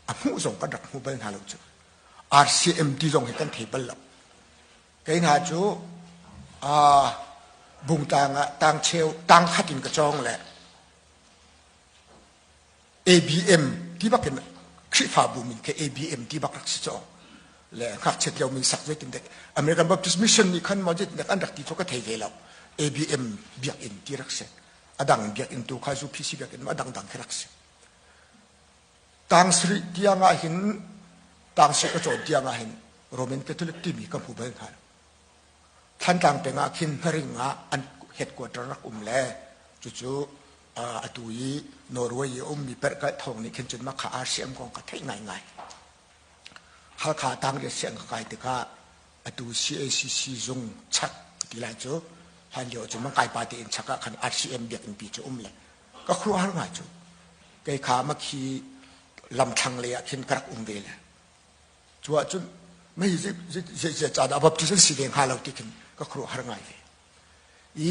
a hmuh zong kan rak hmu bal hna lo cu RCMT zong hi kan thei bal lo kei hna cu bungtang ah tangcheu tangkhat in ka cawng le ABM ti bak in Khrihfabu min ke ABM ti bak rak si caw le ngakchiat lio min sak zei tin dek American Baptist Mission nih khan mawjit nek an rak ti chu ka thei ve lo ABM biak in ti rak si adang biak in tu kha zu PC biak in adang dang khi rak si Tang sarih tiang ah hin, tang sarih ka cawn tiang ah hin, Roman Catholic timi ka hmu bal hna lo. Thantlang peng ah khin Hnaring ah an headquarter rak um le cucu atu i Norway i a ummi perhkalh thawng nih khin cun makha aa siam kong ka theih ngaingai. Halkha tangriat siang ka kai tikah atu CACC zung chak ti lai cu hlan lio cun man kai pa tein chak ah khan RCM biakinn pi cu um le ka khuaruahhar ngai cu kei kha ma khi lamthlang lei ah khin ka rak um ve le cu ah cun mei zei ca dah baptism si ve hnga lo ti khin ka khuaruahhar ngai ve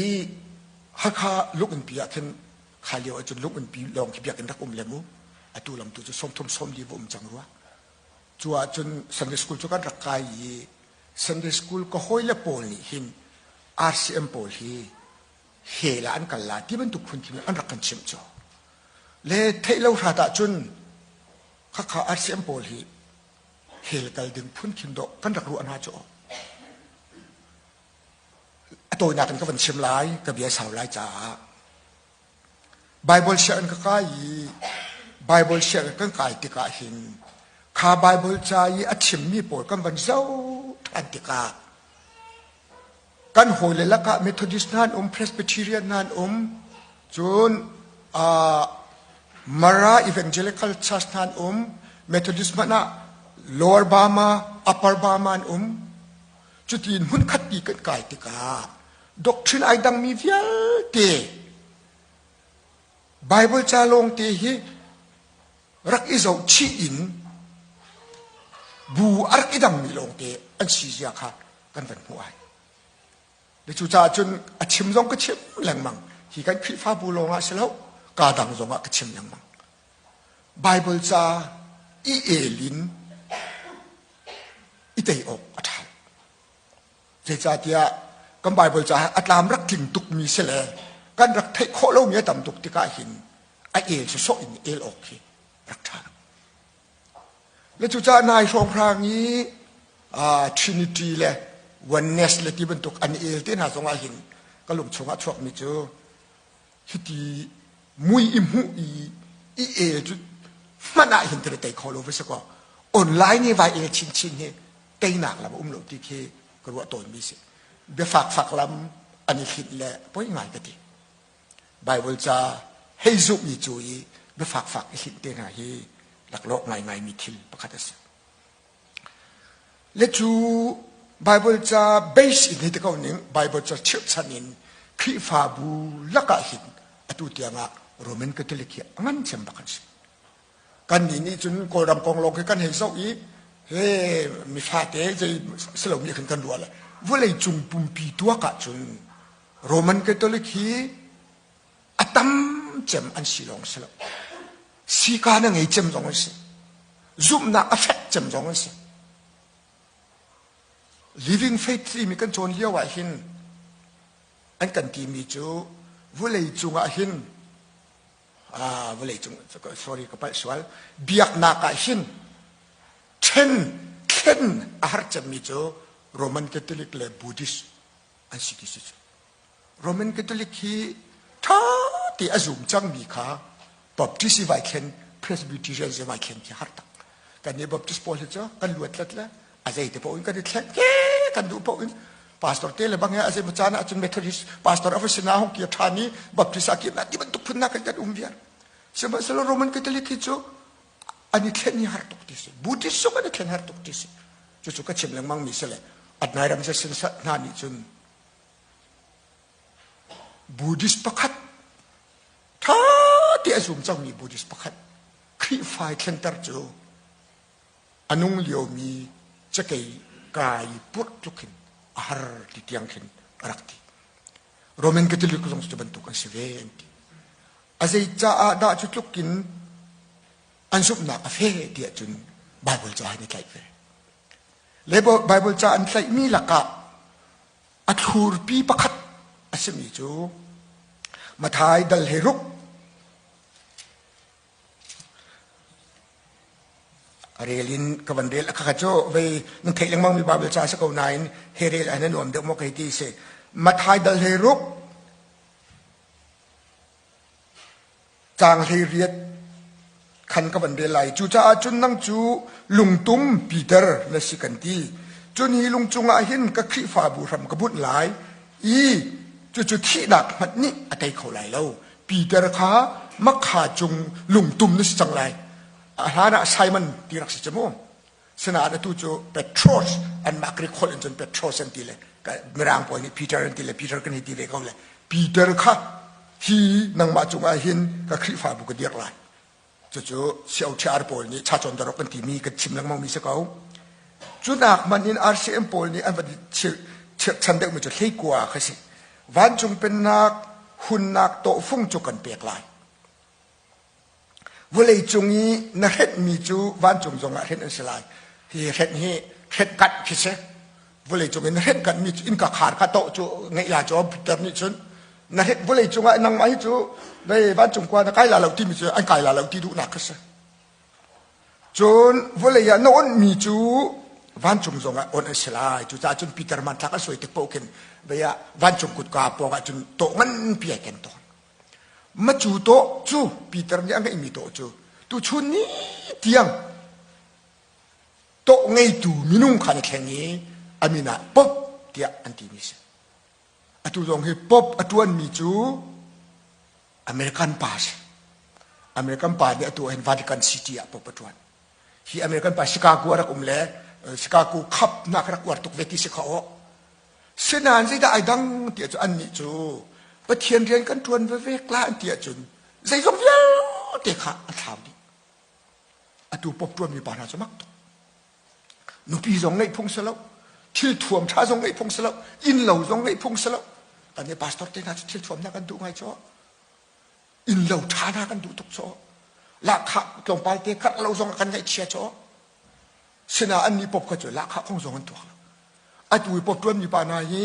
i hakha lungunpi ah khin kha lio ahcun lungunpi lawng khi biakinn rak um le mu atu lam tu cu sawmthum sawm li va um cang rua cu ah cun sunday school cu kan rak kai i sunday school ka hawi le pawl nih hin rcm pawl hi hell ah an kal la ti bantuk phunthim an rak kan chimh cu le theih lo hrat ahcun khakha RCM pawl hi hell kal ding phunthim dawh kan rak ruah hna cu a tawinak in ka van chim lai ka bia sau lai caah Bible sianginn ka kai i Bible sianginn kan kai tikah hin kha Bible ca i a chimmi pawl kan van zoh than tikah kan hawile lakah Methodist hna an um, Presbyterian hna an um. Cun uh, Mara Evangelical Church hna an um. Methodist hmanh ah Lower Bama, Upper Bama an um. Cuti in hmunkhat ti kan kai tikah doctrine ai dangmi vialte Bible ca lawng te hi rak i zohchih in bu a rak i dangmi lawngte an si zia kha kan van hmuh ai le cucaah cun a chim zong ka chim lengmang hi kan khrihfabu lawngah si lo kaa dang zongah ka chim lengmang bible ca i el in i tei awk a ṭha Zeicahtiah kan Baibal caah a tlam rak tling tukmi si le kan rak theih khawh lomi a tam tuk tikah hin a el sawsawh in el awk hi rak ṭha. Le cucaah nai hrawnghrang i Trinity le oneness le ti bantuk an el te hna zongah hin ka lungchung ah chuakmi cu Cuti mui i hmuh i i el cu hmanh ah hin tere tei kho lo va si kaw online i vai el chinchin hi teinak lam um lo ti khi ka ruah tawnmi si biafakfak lam an i hlinh le poi ngai ka ti Bible ca hei zumhmi cu i biafakfak i hlinh te hna hi laklawh ngaingaimi thil pakhat a si Le cu Baibal ca base in hi ti ko ning Baibal ca chirhchan in Khrihfabu lakah hin atu tiangah Roman Catholic hi a ngan chem bak an si. Kannih nih cun Kawlram kong lawng khi kan hei zoh i he mifate zei si lo nih khin kan ruah le vawlei cung pumpi tuak ah cun Roman Catholic hi a tam cem an si lawng si lo sika na ngei cem zong an si zumhnak a fek cem zong an si living faith timi kan cawn lio ah hin an kan timi cu vulei cungah hin ah vawlei cung sorry ka palh sual biaknak ah hin ṭhen thlen a har cemmi cu Roman Catholic le Buddhist an si ti si cu Roman Catholic hi ṭha te a zum cangmi kha Baptist i vai thlen Presbyterian i vai thlen khi har tak. Kan nih Baptist pawl hi cu kan luatlet le a zei te paoh in kan i thlen ke kan duh paoh in pastor te le bang a zei macana acun Methodist pastor of sina hong kia ṭhan i Baptist a kim ti bantuk phun na kan kan um viar. Sihmanhsehlaw Roman Catholic hi cu an i thlen hi har tuk ti si. Buddhist zong an i thlen har tuk ti si. Cucu ka chim lengmang mi si le atnai ram se sin hna nih cun Buddhist pakhat, ṭha te a zum cangmi Buddhist pakhat, Khrihfa i thlengter cu a nung liomi cakei kai purh tluk hin a har ti tiang khin a rak ti. Roman Catholic zong cu bantuk an si ve an ti. A zei caah dah cu tlukin an zumhnak a fe tiah cun Bible caah hin i tlaih ve. Baibal ca an tlaihmi lakah a thlurpi pakhat a simi cu Mathai dal he ruk a rel in ka van rel aka cu vei nan theih lengmang mi Bible ca si ko nain he rel an nuam deuh maw kei ti si Mathai dal he ruk Tlang hlei riat khan ka van rel lai. Cucaah cun nang cu lungtum Peter na si kan ti. Cun hi lung cungah hin ka Khrihfabu hram ka bunh lai i cucu thihnak hmanh nih a tei kho lai lo. Peter kha makha cung lungtum na si cang lai. A hlanah Simon ti rak si cu mu. Sinain atu cu Petros anmah Grik holh in cun Petros an ti le mirang pawl nih Peter an ti le Peter kan hi ti ve ko le Peter kha hi nangmah cungah hin ka Khrihfabu ka dirh lai cucu siauchiar pawl nih chachawn darok kan timi kan chim lengmangmi si ko cunak man in RCM pawl nih an van chirhchan deuhmi cu hleikua kha si vancung pennak hunnak tawhfung cu kan pek lai Vawleicung i na hrenhmi cu vancung zongah hrenh an si lai. Hi hrenh hi hrenkanh khi si. Vawleicung in na hrenkanh mi cu innka khar kha toh cu ngeihla cu a pitter nih cun na hrenh vawleicung ah nangmah hi cu vei vancung kua na kai la lo timi cu an kai la lo ti duhnak kha si. Cun vawlei ah na onhmi cu vancung zongah on an si lai. Cucaah cun Peter man thlak a suai tik paoh khin vei ah vancung kutka pawng ah cun toh nganpi ai ken tawn. Macu tawh cu Peter nih a ngeihmi tawh cu tuchun ni tiang tawh ngeitu minung kha an i thleng i a min ah Pop tiah an timi a si. Atu zong hi Pop a ṭuanmi cu American pa a si. American pa nih atu hin Vatican City ah Pop a ṭuan. Hi American pa Chicago a rak um le Chicago Cup nak rak uar tuk ve ti si khawh. Sinain zeidah ai dang ti ahcun annih cu Pathian rian kan ṭuan veve la an ti ahcun zeizong vialte kha a thlau dih. Atu pop ṭuanmi pa hna cu mak tuk. Nupi zong ngeih phung si lo, thil thuam ṭha zong ngeih phung si lo, innlo zong ngeih phung si lo. Kan nih pastor te hna cu thil thuamnak kan duh ngai cu. Innlo ṭha hna kan duh tuk cu. Lahkhah tlawmpal te karh lo zong kan ngaihchia cu. Sinah an ni pop kha cu lahkhah kong zong an tuak lo. Atu i pop ṭuanmi pa hna hi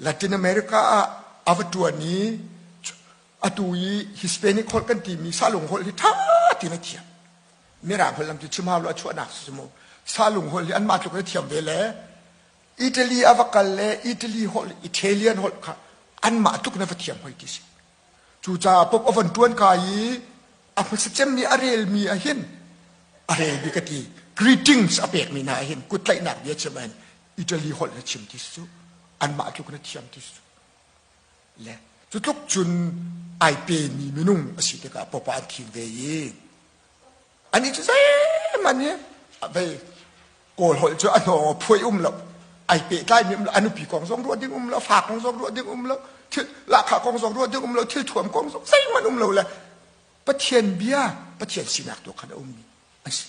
Latin America ah a va ṭuan i atu i Hispanic holh kan timi salung holh hi ṭha tein a thiam. Mirang holh lam cu chim hau lo a chuahnak si mu. Salung holh hi anmah tluk in a thiam ve le Italy a va kal le Italy holh, Italian holh kha anmah tluk in a va thiam hoi ti si. Cucaah pop a von ṭuan kai i a hmusit cem nih a relmi ah hin a relmi ka ti greetings a pekmi hna ah hin kuttlaihnak bia chim ah hin Italy holh na chim ti cu anmah tluk na thiam ti cu le cu tluk cun ai pemi minung a si tikah pop ah an thim ve i ani cu zeim an hi vei kawl holh cu a hnawng phuai um lo ai pe tlai mi um lo anupi kong zong ruat ding um lo fa kong zong ruat ding um lo thil lakha kong zong ruat ding um lo thil thuam kong zong zeimanh um lo le pathian bia pathian sinak tu khan a um mi an si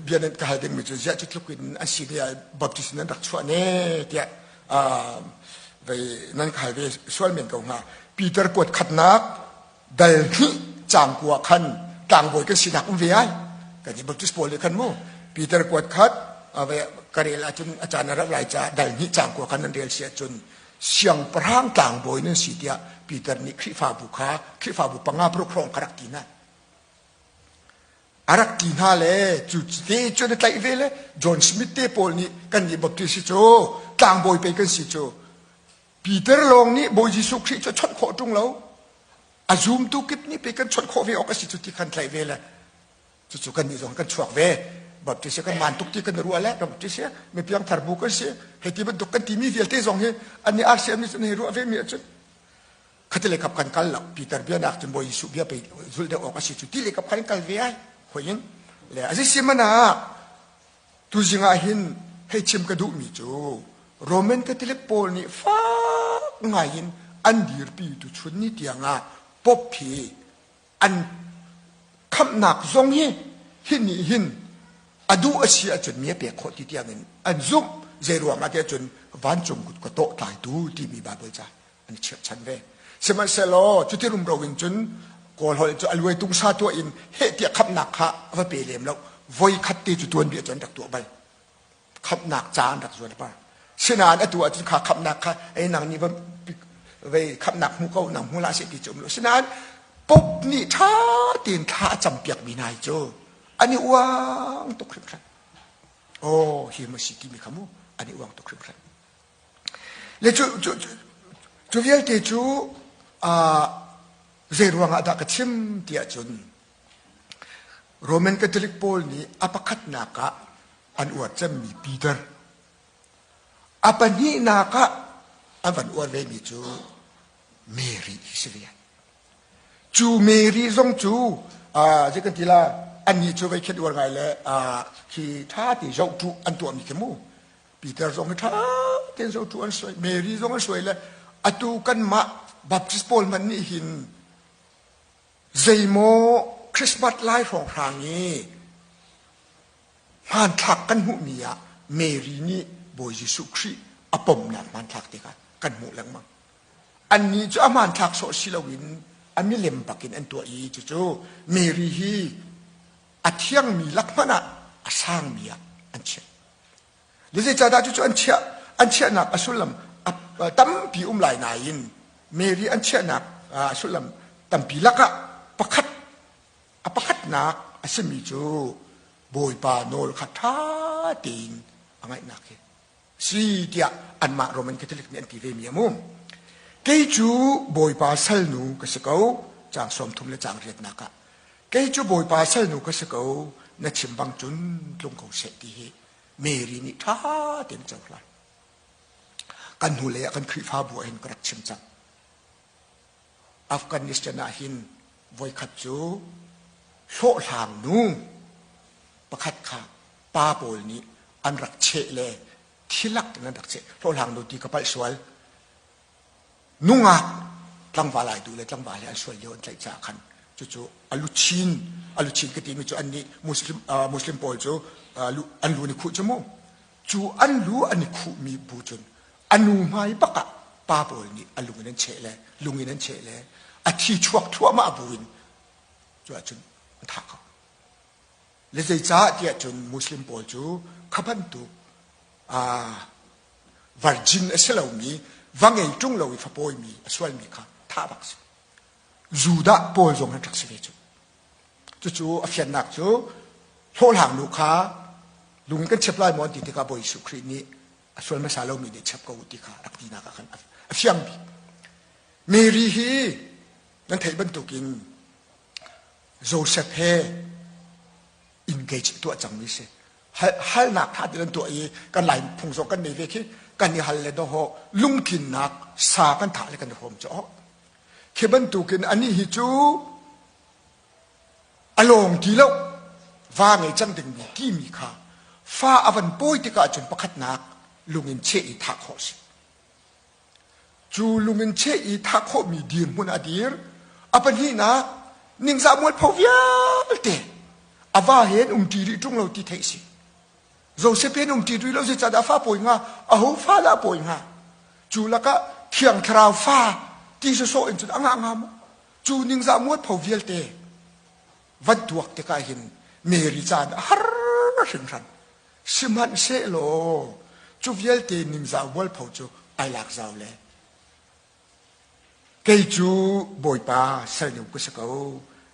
bia nan ka hal dingmi cu ziah cu tluk in an si tiah baptist nan rak chuah ne tiah nan ka hal ve sual men ko hnga peter kuat khatnak dal hnih cangkua khan tlangbawi kan sinak um ve ai kan ti baptist paul le khan mu peter kuat khat karel ahcun a caan a rak lai ca dal hnih cangkua khan nan rel si ahcun siang parang tlangbawi nan si tiah peter nih khrifabu kha khrifabu panga paruk hrawng kha rak ti na a rak ti hna le cu te cun a tlaih ve le John Smith te pawl nih kannih Baptist hi cu tlangbawi pei kan si cu Peter lawng nih Bawi Jesuh Khrih cu chawnh khawh ṭung lo a zumtu kip nih pei kan chawnh khawh ve awk a si cu ti khan tlaih ve le cucu kannih zong kan chuak ve baptist hi kan man tuk ti kan i ruah le kan baptist hi mi piangthar bu kan si hei ti bantuk kan timi vialte zong hi an i RCM nih cun hei ruah ve mi ahcun khatilei kap kan kal lo Peter bia nak cun Bawi Jesuh bia pe zul deuh awk asi cu ti le kap kan kal ve ai hoi in le azi si mana tu zing ah hin hei chim ka duh mi cu Roman Catholic pawl nih fak ngai in an dirpi tu chun ni tiang ah pop hi an khamnak zong hi hi nih hin a duh asi ahcun mi a pek khawh ti tiang in an zumh zei ruang ah tiah cun vancung kut ka tawh tlai tu timi Bible ca an i chirhchan ve sihmanhsehlaw cuti rumro in cun kawlholh cu aluai tung sa tuah in heh tiah khamhnak kha a va pe lem lo voi khat te cu tuan bia cun rak tuah bal khamhnak ca an rak zual pa sinain atu ahcun kha khamhnak kha ei nang nih va vei khamhnak hmu ko nang hmu la se ti cu um lo sinain pop nih ṭha tein thla a cam piak mi nai cu an i uang tuk hrimhran aw hi mu si ti mi kha mu an i uang tuk hrimhran Le cu vialte cu zeiruangah dah ka chim ti ahcun Roman Catholic pawl nih a pakhatnak ah an uar cemmi Peter, a pahnihnak ah an van uar vemi cu Mary hi si ve. Cu Mary zong cu zei kan ti la annih cu voi khet uar ngai le khi ṭha te zoh tu an tuahmi khi mu Peter zong hi ṭha tein zo tu an suai Mary zong an suai le atu kanmah Baptist pawl man nih hin zeimaw Christmas lai hrawng hrang i hmanthlak kan hmuhmi ah Mary nih Bawi Jesuh Khrih a pomnak hmanthlak tikah kan hmuh lengmang. Annih cu a hmanthlak sawh si loin a milem bakin an tuah i cucu Mary hi a thiangmi lak hmanh ah a sangmi ah an chiah. Le zeicahdah cucu an chiah? An chiahnak a sullam a tampi um lai nain Mary an chiahnak a sullam tampi lakah pakhat a pakhatnak a simi cu Bawipa nawl kha ṭha tein a ngaihnak hi si tiah anmah Roman Catholic nih an ti vemi a um. Kei cu Bawipa salnu ka si ko, caang sawmthum le caang riatnak ah. Kei cu Bawipa salnu ka si ko, na chim bang cun tlung ko seh ti hi Mary nih ṭha tein cohlan. Kan hnulei ah kan Khrihfabu ah hin ka rak chim cang. Afghanistan ah hin voikhat cu hlawhhlang nu pakhat kha pa pawl nih an rak cheh le thilak in an rak cheh hlawhhlang nu ti ka palh sual nungak tlangval ai du le tlangval he an sual lio an tlaih caah khan cucu aluchin aluchin ka timi cu an nih muslim muslim pawl cu an lu ni khuh cu mu cu an lu an i khuhmi bu cun a nu hmai bak ah pa pawl nih a lung in an cheh le lung in an cheh le a thi chuak thluahmah bu in cu ah cun an thah ko le zeicah tiah cun muslim pawl cu kha bantuk virgin a si lomi va ngei ṭung lo i fa pawimi a sualmi kha thah bak si Judah pawl zong an rak si ve cu. Cucu a fiannak cu hlawhhlang nu kha lung kan chep lai maw an ti tikah Bawi Jesuh Khrih nih a sual hmasa lomi nih chep ko u ti kha rak tinak ah khan a fiang bik. Mary hi nan theih bantukin Joseph he engage tuah cangmi si. Halnak ṭha te nan tuah i kan lai phung zong kan nei ve khi kan i hal le dawh lungtlinnak sa kan thah le kan i hawm cu. Khi bantukin anih hi cu a lawng ti lo va ngei cang dingmi timi kha fa a van pawi tikah cun pakhatnak lungin cheh i thah khawh a si. Cu lungin cheh i thah khawhmi dirhmun a dir. A pahnihnak ningzah mualpho vialte a va he an um ṭi rih ṭung lo ti theih a si. Josephine um ṭi lo si cadah fa pawi nga aho fa dah pawi nga cu lakah thiang thlarau fa ti sawsawh in cun anga nga mu cu ning za muat pho vialte vat duak tikah hin Mary caan a har hringhran sihmanhsehlaw cu vialte ningzau bual pho cu ai lak zau le kei cu bawipa sal nu ka si ko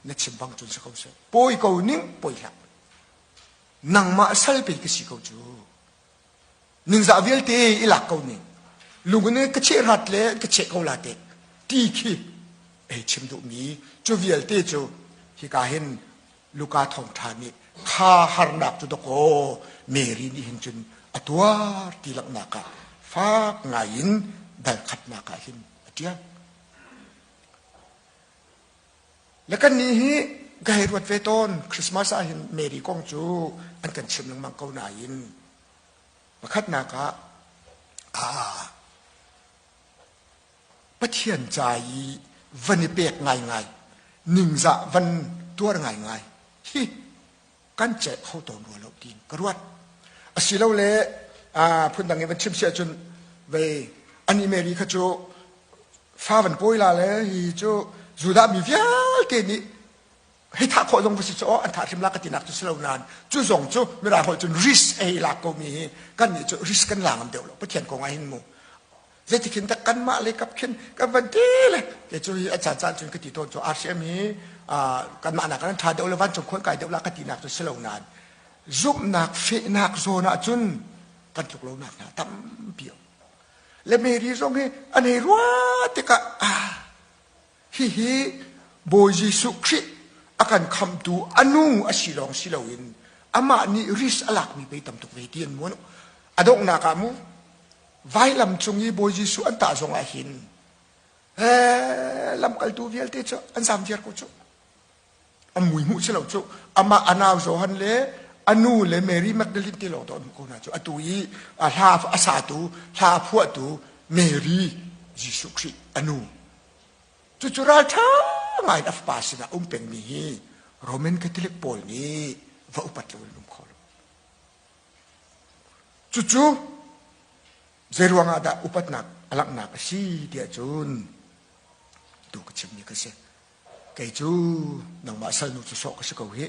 na chim bang cun si ko seh pawi ko ning pawi hlah nangmah salpe ka si ko cu ningzah vialte i lak ko ning lungin ka cheh rat le ka cheh ko la te ti khi ei chim duh mi cu vialte cu hika hin luka thong ṭha nih kha harnak cu dakaw Mary nih hin cun a tuar ti laknak ah fak ngai in dal khatnak ah hin a ṭiang Le kannih hi ka hei ruat ve tawn Christmas ah hin Mary kong cu an kan chim lengmang ko nain pakhatnak ah aa Pathian ca i van i pek ngaingai ningzah van tuar ngaingai hi kan ceih kho tawn rua lo tiin ka ruat asilole phundang i van chim si ahcun vei an email kha cu fa van pawila le hi cu judah mi vialte nih hei thah khawh zong va si cu an thah hrim la ka tinak cu si lo nain cu zong cu mirang holh cun risk ei lak komi hi kan nih cu risk kan la ngam deuh lo pathian kong ah hin mu Zeitik hin tak kanmah le kap khin kan van te le te cu hi a cha caan cun ka ti tawn cu RCM hi kanmah nak kan tha deuh le van cung khuan kai deuh la ka ti nak cu si lo nan zumhnak fehnak zawn ah cun kan tluk lo nak hna tampi le Mary zong hi an ei rua tikah ah hi hi Bawi Jesuh Khrih a kan khamtu anu a si lawng si loin amah nih risk a lakmi pei tam tuk ve ti an muan a donghnak ah mu vailam cung i Bawi Jesuh an tah zong ah hin eh, lamkaltu vialte cu an zamziar ko cu an mui hmuh si lo cu amah anau Johan le anu le Mary Magdalene te lawng don ko na cu atu i a hla a satu hla phuahtu Mary Jesuh Khrist anu cu cu ral ṭha ngai in a fapa sinah um pengmi hi Roman Catholic pawl nih va upat lo in um kho lo Cucu zeiruangah dah upatnak a langhnak a si tiah cun tu ka chimmi ka si. Kei cu nangmah salnu cu sawh ka si ko hi.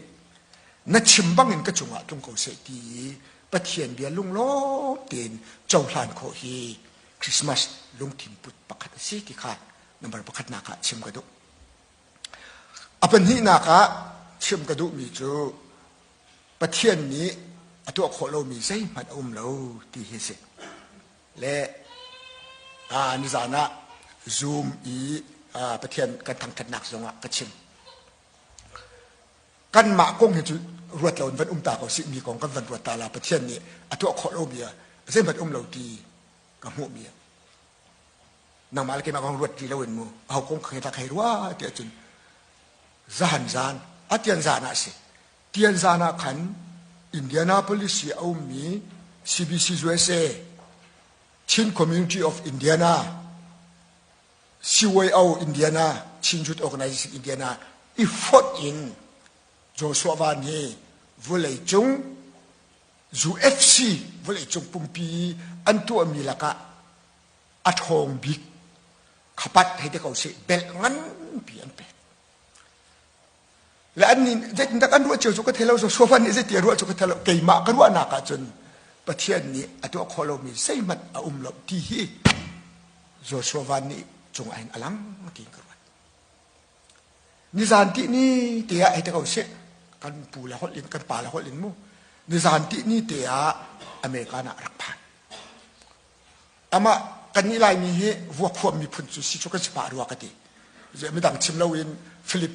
Na chim bangin ka cungah tlung ko seh ti i Pathian bia lunglawm tein cohlan khawh hi Christmas lungthin put pakhat a si ti kha number pakhatnak ah chim ka duh. A pahnihnak ah chim ka duhmi cu Pathian nih a tuah khawh lomi zeihmanh a um lo ti hi si. Le ni zan ah Zoom i Pathian kan thangṭhatnak zongah ka chim. Kanmah kong hi cu ruat lo in van um ta ko sih mi kong kan van ruat ta la Pathian nih a tuah khawh lomi zeihmanh um lo ti ka hmuhmi a nangmah le keimah kong ruat ti loin mu aho kong kha tlak hei rua tiah cun zahan zan a tian zan ah a si tian zan ah khan Indianapolis i a ummi CBC USA Chin Community of Indiana CYO Indiana Chin Youth Organization Indiana i fonh in Joshua Van hi vawlei cung UFC vawleicung pumpi i an tuahmi lakah a ṭhawng bik khapat hei ti ko sih belt nganpi an pek le an nin zeitindak an ruah cio cu ka thei lo so sofa nih zeiti a ruah cu ka thei lo keimah ka ruahnak ahcun pathian nih a tuah khawh lomi zeihmanh a um lo ti hi Joshua Van nih cung ain a lang tiin ka ruat Nizan ti ni te ah ei te ko sih. Kan pu le holh in, kan pa le holh in mu. Nizan ti ni te ah American ah rak phan. Amah kan nih Laimi hi vuakhuam miphun cu si cu kan si pah rua ka ti. Midang chim lo in Philippines